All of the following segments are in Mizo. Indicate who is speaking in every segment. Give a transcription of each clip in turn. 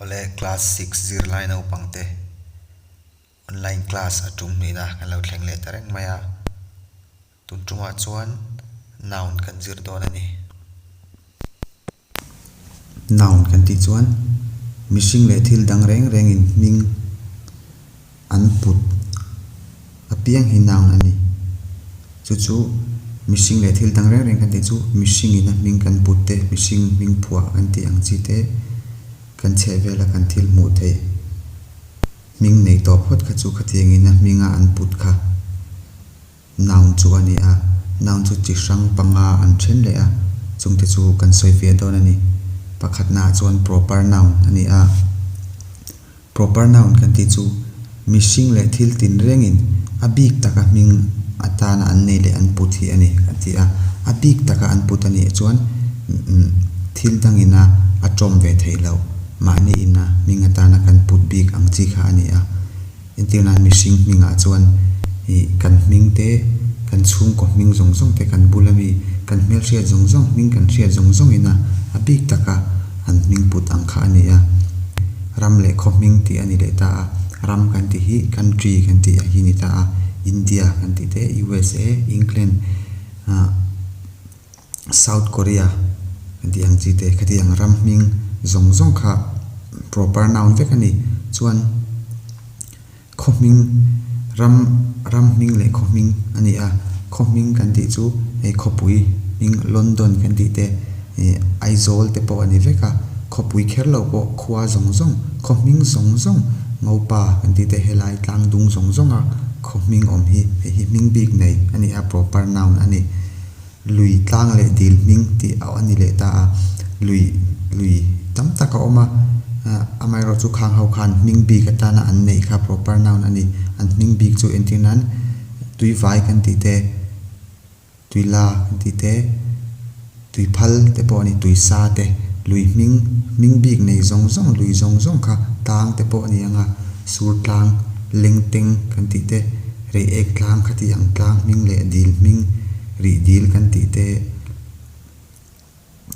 Speaker 1: Awle class six zirlai naupang te online class a tum hmehna kan lo thleng leh ta reng mai a, tun tumah chuan noun kan zir dawn a ni. Noun kan tih chuan mihring leh thil dang reng rengin hming. An put a piang hi noun a ni. Chu chu mihring leh thil dang reng reng kan tih chu mihringin a hming kan put te, mihring hming phuah kan tih ang chi te kan chheh vela kan thil hmuh theih hming nei tawp phawt kha chu khatiangin a hminga an put kha. Noun chu a ni a, noun chu chi hrang panga an then leh a, chungte chu kan sawi ve dawn a ni. Pakhat naah chuan proper noun a ni a. Proper noun kan tih chu mihring leh thil tin rengin a bik taka hming atana an nei leh an put hi a ni kan ti a. A bik taka an put a nih chuan thil dangina a tawm ve theih loh mahniin a hming atana kan put bik ang chi kha a ni a. Entir nan mihring hmingah chuan i kan hming te, kan chhungkaw hming zawng zawng te, kan bula mi, kan hmelhriat zawng zawng hming kan hriat zawng zawng ina a bik taka an hming put ang kha a ni a. Ram leh khawhming tih a ni leh ta a, ram kan tih hi country kan tih a hi ni ta a, India kan tih te, USA, England, ah, South Korea tih ang chi te khati ang ram hming zawng zawng kha proper noun vek a ni chuan khaw hming ram ram hming leh khaw hming a ni a khaw hming kan tih chu hei khawpui hming London kan tih te eh Aizawl te pawh a ni vek a khawpui kher lo pawh khua zawng zawng khaw hming zawng zawng Ngopa kan tih te helai tlang dung zawng zawng a khaw hming awm hi hei hi hming bik nei a ni a proper noun a ni. Lui tlang leh dil hming tih a ni leh ta a, lui lui tam tak a awm a, amaherawhchu chu khang ho khan hming bik atana an neih kha proper noun a ni. An hming bik chu entir nan tuivai kan tih te, tuila kan tih te, tuiphal te pawh a ni, tuisa te, lui hming, hming bik nei zawng zawng, lui zawng zawng kha tlang te pawh a ni ang a, sur tlang, lengteng kan tih te. Rih ek tlang, khatih ang tlang hming leh dil hming, rih dil kan tih te,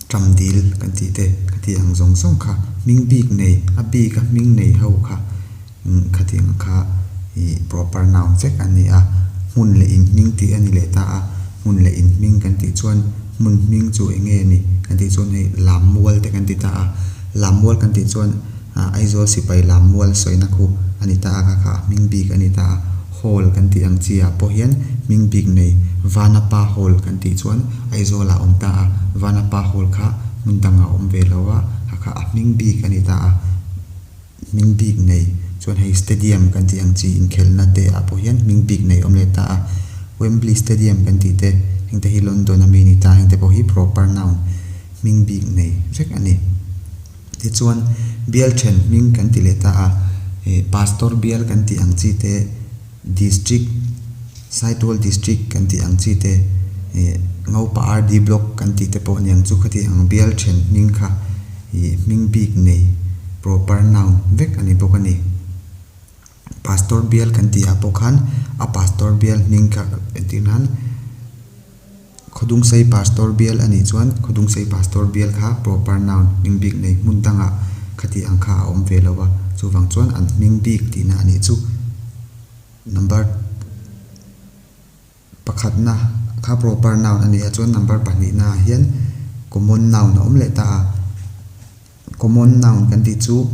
Speaker 1: ṭam dil kan tih te, khatih ang zawng zawng kha hming bik nei, a bik a hming nei ho kha khatih ang kha ih proper noun vek a ni a. Hmun leh in hming tih a ni leh ta a, hmun leh in hming kan tih chuan hmun hming chu eng nge a ni kan tih chuan hei lam mual te kan ti ta a, lam mual kan tih chuan, Aizawl sipai lam mual sawina khu a ni ta a, kha kha hming bik a ni ta a, Hall kan tih ang chi ah pawh hian hming bik nei Vana Pa Hall kan tih chuan Aizawl ah awm ta a, Vana Pa Hall kha hmun dang ah awm ve lo a, kha kha a hming bik a ni ta a, hming bik nei chuan hei Stadium kan tih ang chi inkhelhna te ah pawh hian hming bik nei awm leh ta a, Wembley Stadium kan tih te heng te hi London ami a ni ta a, heng te pawh hi proper noun hming bik nei vek a ni. Tichuan, bial then hming kan ti leh ta a, Pastor bial kan tih ang chi te, District, Saitual District kan tih ang chi te, Ngaupa RD Block kan tih te pawh niang chu ka ti ang. Bial then hming kha hming bik nei, proper noun, vek a ni bawk a ni. Pastor bial kan tihah pawh khan a Pastor bial hming kha entirnan Khawdungsei Pastor bial a nih chuan Khawdungsei Pastor bial kha proper noun, hming bik nei hmun danga khatih ang kha a awm ve lo a, chuvang chuan an hming bik tihna a nih chu. Number pakhatna kha proper noun a nih a chuan number pahnihna ah hian common noun a awm leh ta a. Common noun kan tih chu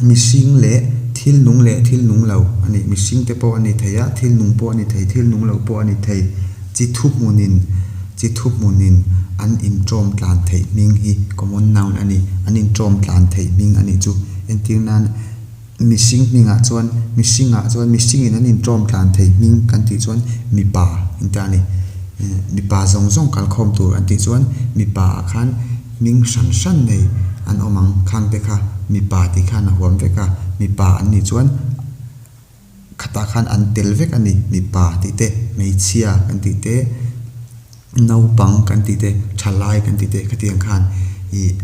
Speaker 1: mihring leh thil nung leh thil nung lo a ni. Mihring te pawh a ni thei a, thil nung pawh a ni thei, thil nung lo pawh a ni thei. Chi thu hmunin, chi thu hmunin an inṭawm tlan theih hming hi common noun a ni. An inṭawm tlan theih hming a nih chu. Entir nan. Mihring hningah chuan, mihringah chuan, mihringin an intawm tlan thei hming kan tih chuan mipa engte a ni. Mipa zawng zawng kalkhawm tur an tih chuan mipaah khan hming hran hran nei an awm ang. Khangte kha mipa tih khan a huam vek a, mipa an nih chuan khatah khan an tel vek a ni. Mipa tih te, hmeichhia kan tih te, naupang kan tih te, thalai kan tih te khatiang khan ih--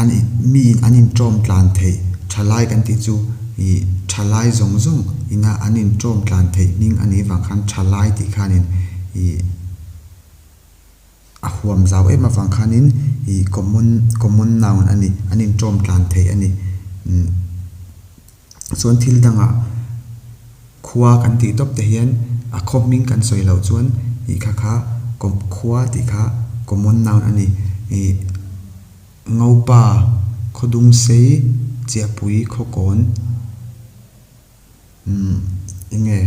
Speaker 1: an in miin an in tawm tlan theih tha lai kan tih chu ih tha lai zawng zawng ina an in tawm tlan theih hming a nih vang khan tha lai tih khanin ih a huam zau em avang khanin ih common common noun a ni an in tawm tlan theih a ni. chuan thil danga khua kan tih tawp te hian a khawp hming kan sawi loh chuan ih kha kha kawp khua tih kha common noun a ni ih ngopa khaw dung sei chiahpui khaw kawn umm eng nge.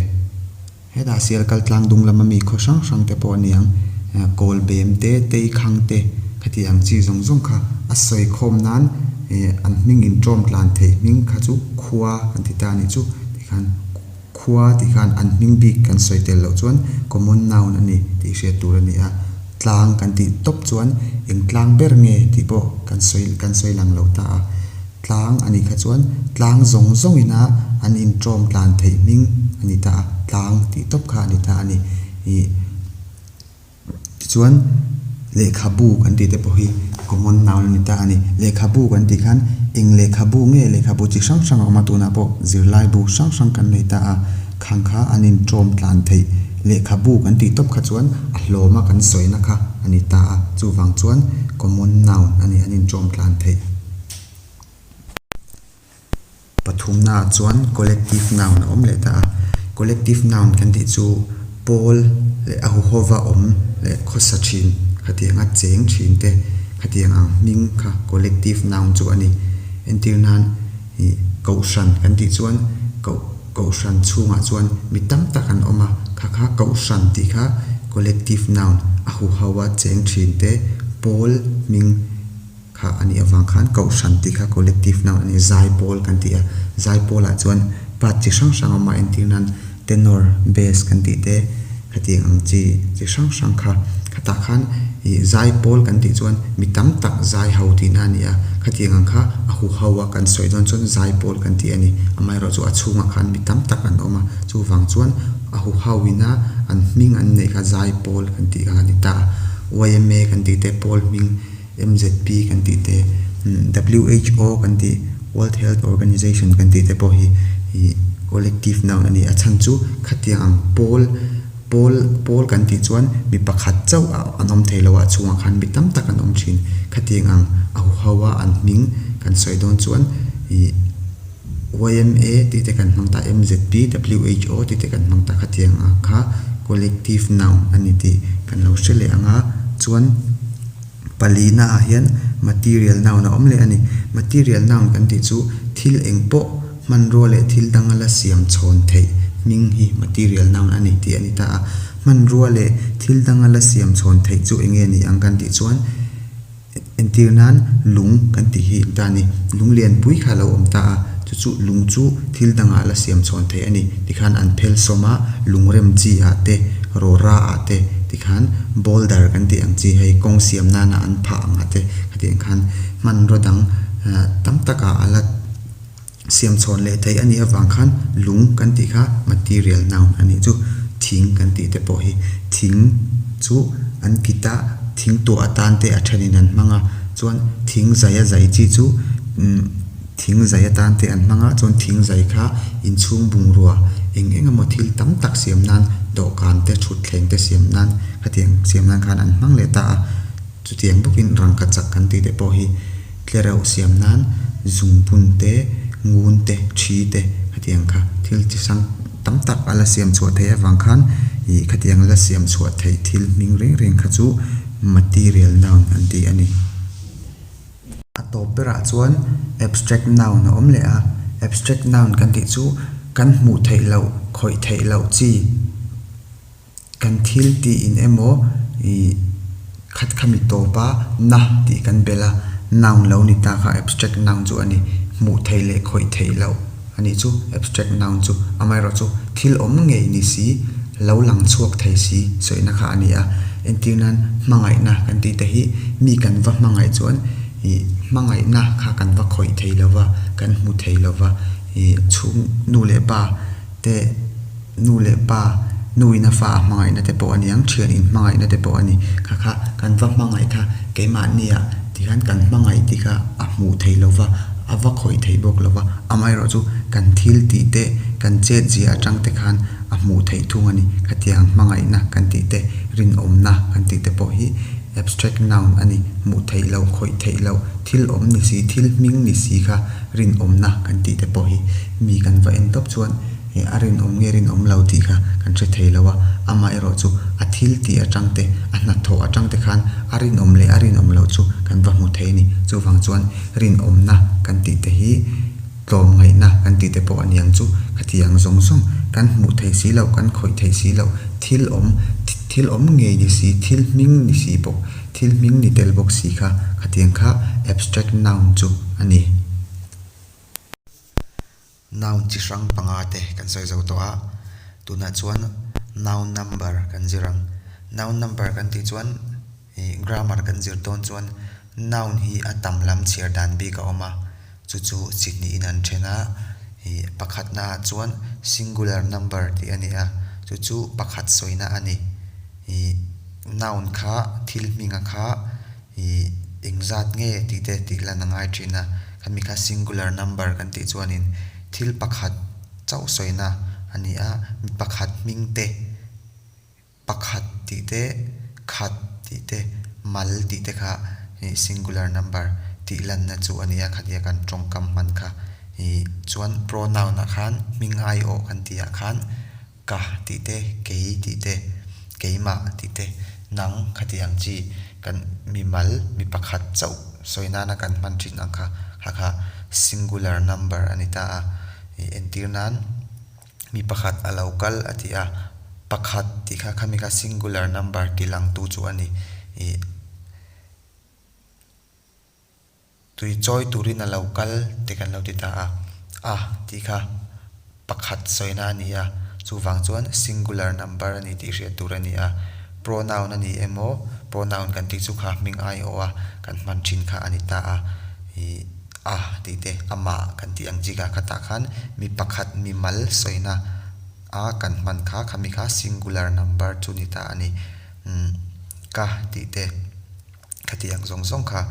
Speaker 1: Hetah sial kal tlang dung lama mi khaw hrang hrang te pawh aniang kawl bem te, tei khang te khati ang chi zawng zawng kha a sawi khawm nan an hming in tawm tlan theih hming kha chu khua kan ti ta a nih chu. Tikhan khua tih khan an hming bik kan sawi tel loh chuan common noun a ni tih hriat tur a ni a. Tlang kan tih tawp chuan eng tlang ber nge tih pawh kan sawi kan sawi lang lo ta a, tlang a nih kha chuan tlang zawng zawng ina an intawm tlan theih hming a ni ta a, tlang tih tawp kha a ni ta a ni. Ih tichuan lehkhabu kan tih te pawh hi common noun a ni ta a ni. Lehkhabu kan tih khan eng lehkhabu nge lehkhabu chi hrang hrang a awm a tunah pawh zirlaibu hrang hrang kan nei ta a. Khang kha an inṭawm tlan theih. Lehkhabu kan tih tawp kha chuan a hlawm a kan sawi na kha a ni ta a, chuvang chuan common noun a ni an inṭawm tlan theih. Pathumnaah chuan collective noun a awm leh ta a. Collective noun kan tih chu Pawl leh a huhova awm leh khawsa ṭhin khatianga cheng ṭhinte khatianga hming kha collective noun chu a ni. Entirnan Hei Kohhran kan tih chuan koh Kohhran chhungah chuan mi tam tak an awm a, kha kha Kohhran tih kha collective noun a hu hauha cheng thin te pawl hming kha a nih avang khan Kohhran tih kha collective noun a ni. Zaipawl kan ti a, Zaipawlah chuan part chi hrang hrang a awm a entir nan. Tenor, Bass kan tih te ka tiang ang chi chi hrang hrang kha. Khatah khan ih zai pawl kan tih chuan mi tam tak zai ho tihna a ni a, kha tiang ang kha a hu ho a kan sawi dawn chuan zai pawl kan tih a ni. Amaherawh chu a chhungah khan mi tam tak an awm a, chuvang chuan a hu ho ina an hming an neih kha zai pawl kan tih kha a ni ta. Yma kan tih te pawl hming MZP kan tih te, WHO kan tih, World Health Organization kan tih te pawh hi collective noun a ni. A chhan chu khatiang ang pawl, pawl, pawl kan tih chuan mi pakhat chauh a an awm thei lo a, a chhungah khan mi tam tak an awm thin. Khatiang ang a huhau a an hming kan sawi dawn chuan ih. YMA tih te kan hmang ta a MZP, who tih te kan hmang ta kha tiang ang kha collective noun a ni tih kan lo hre leh ang a. Chuan pali naah hian material noun a awm leh a ni. Material noun kan tih chu thil eng pawh hmanrua leh thil danga la siam chhawn theih hming hi material noun a ni tih a ni ta a. Hmanrua leh thil danga la siam chhawn theih chu eng nge ni ang kan tih chuan, Entir nan lung kan tih hi ta ni. Lung lianpui kha lo awm ta a, chu chu lung chu thil dangah la siam chhawn theih a ni. Tikhan an phel sawm a, lungrem chi ah te, rawra ah te, tikhan boulder kan tih ang chi hei kawng siam nana an phah ang a te, hetiang khan hmanraw dang tam takah a la. siam chhawn leh daih a nih avang khan lung kan tih kha material noun a nih chu thing kan tih te pawh hi thing chu an kit a thing tuah a tan te a thenin an hmang a chuan thing zaia zaih chi chu imm thing zaih atan te an hmang a chuan thing zaih kha inchhung bungrua eng eng emaw thil tam tak siam nan dawhkan te thutthleng te siam nan hetiang siam nan khan an hmang leh ta a. Chutiang bawkin rangkhat chak kan tih te pawh hi tler a usiam nan zungbun te, ngun te, ṭhi te khatiang kha thil chi hrang tam tak a la siam chhuah theih avang khan ih khatiang la siam chhuah theih thil hming reng reng kha chu material noun an ti a ni. A tawp berah chuan abstract noun a awm leh a, abstract noun kan tih chu kan hmuh theih loh, khawih theih loh chi Kan thil tiin emaw i khat kha mi tawp a, na tih kan bel a, noun lo ni ta kha abstract noun chu a ni. Hmuh theih leh khawih theih loh a nih chu abstract noun chu. Amaherawh chu thil awm ngei ni si, lo lang chhuak thei si sawiina kha a ni a. Entir nan hmangaihna kan tih te hi mi kan va hmangaih chuan ih hmangaihna kha kan va khawih thei lo va, kan hmu thei lo va. Ih chhung nu leh pa te. Nu leh pa, nuin a fa a hmangaihna te pawh a ni ang, thian in hmangaihna te pawh a ni. Kha kha kan va hmangaih kha keimahnia tihian kan hmangaih tih kha a hmuh theih lo va, a va khawih theih bawk lo va, amaherawh chu kan thil tih te, kan chetziah atang te khan a hmuh theih thung a ni. Khatiang hmangaihna kan tih te, rinawmna kan tih te pawh hi abstract noun a ni, hmuh theih loh, khawih theih loh, thil awm ni si, thil hming ni si kha rinawmna kan tih te pawh hi mi kan va en tawp chuan, He a rinawm nge rinawm lo tih kha kan hre thei lo a, amah erawh chu a thil tih atangte, a hnathawh atangte khan a rinawm leh a rinawm loh chu kan va hmu thei a ni. Chuvang chuan rinawmna kan tihte hi tlawmngaihna kan tihte pawh a niang chu khatiang zawng zawng kan hmuh theih si loh, kan khawih theih si loh, thil awm, thil awm ngei ni si, thil hming ni si bawk, thil hming ni tel bawk si kha khatiang kha abstract noun chu a ni. Noun chi hrang panga te kan sawi zo tawh a, tunah chuan noun number kan zir ang. Noun number kan tih chuan ih grammar kan zir dawn chuan noun hi a tam lam chhiar dan bik a awm a, chu chu chi hnihin an then a, ih pakhat na ah chuan singular number tih a ni a, chu chu pakhat sawina a ni. Ih noun kha thil hminga kha I engzat nge tih te tih lan a ngai thin a, khami kha singular number kan tih chuanin thil pakhat chauh sawina a ni a, mi pakhat hming te, pakhat tih te, khat tih te, mal tih te kha i singular number tih lanna chu a ni a, khania kan tawngkam hman kha i. Chuan pronoun ah khan hming aiawh kan tih ah khan. Ka tih te, kei tih te, keimah tih te, nang khati ang chi kan mimal mi pakhat chauh sawi nana kan hman thin ang kha hakha singular number a ni ta a. I entir nan mi pakhat a lo kal a ti a, pakhat tih kha khami kha singular number tih lang tu chu a ni. I. Tui chawi turin a lo kal te kan lo ti ta a, a tih kha pakhat sawina a ni a, chuvang chuan singular number a ni tih hriat tur a ni a. Pronoun a ni emaw, pronoun kan tih chu kha hming ai awh a kan hman thin kha a ni ta a, ih a tih te amah kan tih ang chi kha kha tah khan mi pakhat mimal sawina a kan hman kha khami kha singular number chu ni ta a ni. Umm ka tih te. Khati ang zawng zawng kha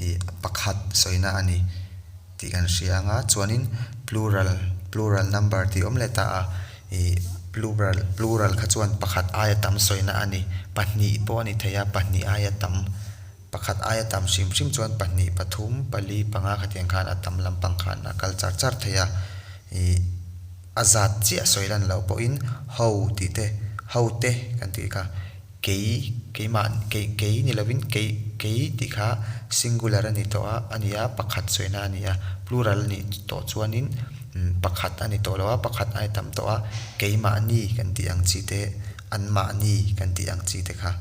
Speaker 1: ih pakhat sawina a ni tih kan hria anga chuanin plural plural number tih awm let a a ih plural plural kha chuan pakhat aia tam sawina a ni pahnih pawh a ni thei a pahnih aia tam pakhat aia tam hrim hrim chuan pahnih pathum pali panga kha tiang khan a tam lampang khan a kal char char thei a ih a zat chiah sawilan loh pawhin ho tih te hote kan tih kha Kei, keimah, kei, kei ni lovin kei, kei tih kha singular a ni tawh a, a ni a, pakhat sawiina a ni a, plural a nih tawh chuanin pakhat a ni tawh lo a, pakhat ai tam tawh a, keimahni kan tih ang chi te, anmahni kan tih ang chi te kha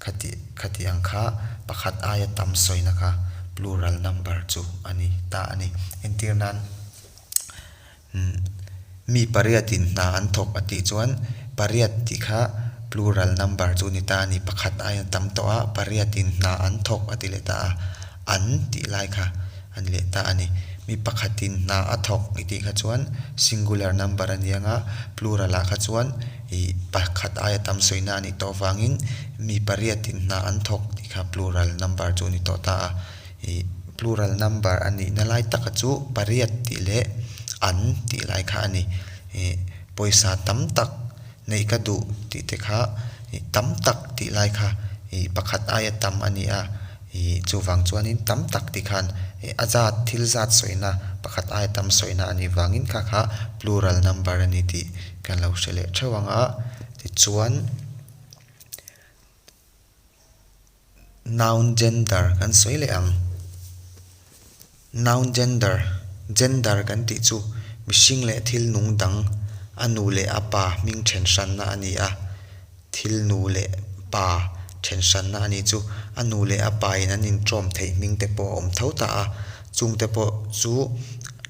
Speaker 1: khati, khati ang kha pakhat aia tam sawiina kha plural number chu a ni ta a ni. Entir nan. Mi pariat in hna an thawk a tih chuan pariat tih kha plural number chu ni ta a ni, pakhat aia tam tawh a, pariat in hna an thawk a ti leh ta a, an tih lai kha a ni leh ta a ni. Mi pakhat in hna a thawk i tih kha chuan singular number a ni ang a, plural ah kha chuan ih pakhat aia tam sawi na a nih tawh vangin mi pariat in hna an thawk tih kha plural number chu a ni tawh ta a. I plural number a nihna lai taka chu pariat tih leh an tih lai kha a ni. I pawisa tam tak neih ka duh tih te kha i tam tak tih lai kha i pakhat aia tam a ni a. I chuvang chuanin tam tak tih khan i a zat thil zat sawina pakhat aia tam sawina a nih vangin kha kha plural number a ni tih kan lo hre leh theuh ang a. Tichuan. Noun gender kan sawi leh ang. Noun gender, gender kan tih chu mihring leh thil nung dang a nu leh a pa hming then hranna a ni a. Thil nu leh pa then hranna a nih chu a nu leh a pa in an intawm theih hming te pawh a awm tho ta a. Chung te pawh chu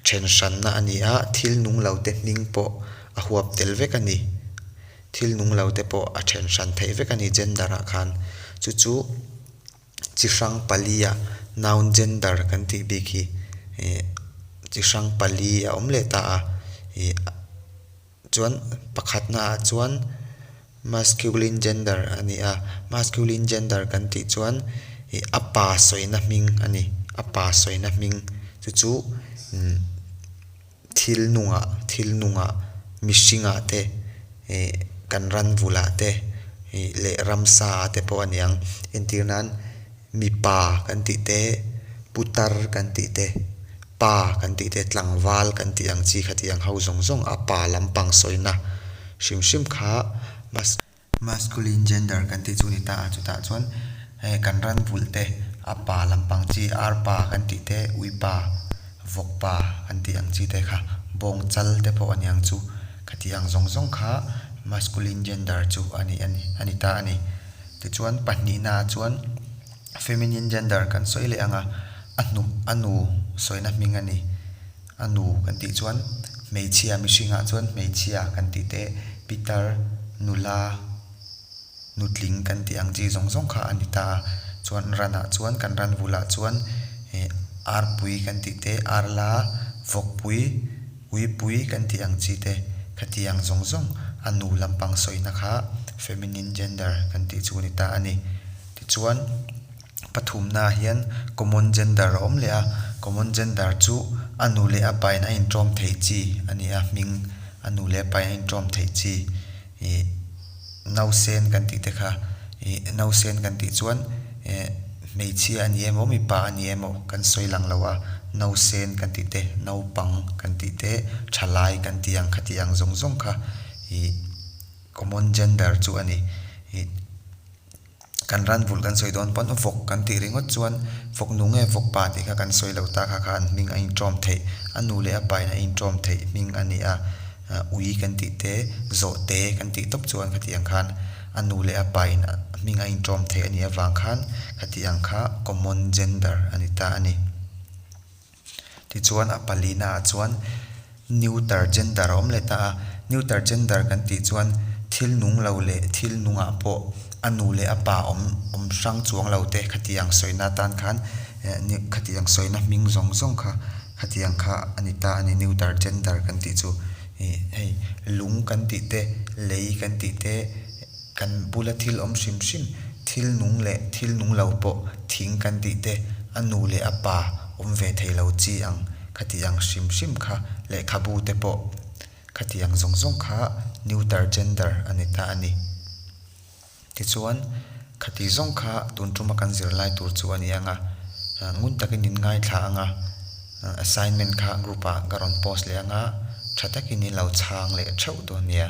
Speaker 1: then hranna a ni a, thil nung lo te hming pawh a huap tel vek a ni. Thil nung lo te pawh a then hran theih vek a ni gender ah khan. Chu chu chi hrang pali ah noun gender kan tih bik hi ih chi hrang pali a awm leh ta a. Ih chuan pakhat na ah chuan masculine gender a ni a, masculine gender kan tih chuan ih a pa sawi na hming a ni. A pa sawi na hming chu chu umm thil nungah, thil nungah, mihringah te, ih, kan ranvulah te, ih, leh ramsa ah te pawh a ni ang. Entir nan, mipa kan tih te, putar kan tih te, pa kan tih te, tlangval kan tih ang chi kha tih ang ho zawng zawng a pa lampang sawina hrim hrim kha, Masculine gender kan tih chu ni ta a, chutah chuan he kan ran vulh te a pa lampang chi ar pa kan tih te, ui pa, vawk pa kan tih ang chi te kha bawng chal te pawh a niang chu ka tih ang zawng zawng kha masculine gender chu a ni a ni a ni ta a ni. Tichuan pahnihna ah chuan feminine gender kan sawi leh ang a, a hnuk a nu sawina hming a ni. A nu kan tih chuan hmeichhia mihringah chuan hmeichhia kan tih teh pitar nula nutling kan tih ang chi zawng zawng kha a ni ta a chuan ranah chuan kan ran vulah chuan eh arpui kan tih te arla vawkpui uipui kan tih ang chi te kha ti ang zawng zawng a nu lampang sawina kha feminine gender kan tih chu a ni ta a ni tichuan. Pathumnaah hian common gender a awm leh a, common gender chu a nu leh a pain a inṭawm theih chi a ni a, hming a nu leh a pain a inṭawm theih chi. Ih nausen kan tih te kha, ih nausen kan tih chuan eh hmeichhia a ni emaw mipa a ni emaw kan sawi lang lo a, nausen kan tih te, naupang kan tih te, ṭha lai kan tih ang kha tih ang zawng zawng kha ih common gender chu a ni. Ih. kan ran vulh kan sawi dawn pawn u vawk kan tih ringawt chuan vawk nu nge vawk pa tih kha kan sawi lo ta kha kha an hming a intawm theih a nu leh a pain a intawm theih hming a ni a ui kan tih te zawh te kan tih tawp chuan khati ang khan a nu leh a pain a hming a intawm theih a nih avang khan khati ang kha common gender a ni ta a ni. Tichuan a palinaah chuan neuter gender a awm let a. Neuter gender kan tih chuan thil nung lo leh thil nungah pawh a nu leh a pa awm awm hrang chuang lo te khati ang sawina atan khan eh khati ang sawina hming zawng zawng kha khati ang kha a ni ta a ni neuter gender kan tih chu. Hei lung kan tih te lei kan tih te, Kan bula thil awm hrim hrim, thil nung leh thil nung lo pawh thing kan tih te, a nu leh a pa awm ve thei lo chi ang, khati ang hrim hrim kha, lehkhabu te pawh khati ang zawng zawng kha neuter gender a ni ta a ni. Tichuan, khati zawng kha tun tuma kan zirlai tur chu a ni ang a, ngun takin in ngaithla ang a, assignment kha group ah ka rawn post leh ang a, tha takin in lo chhang leh theuh dawn nia.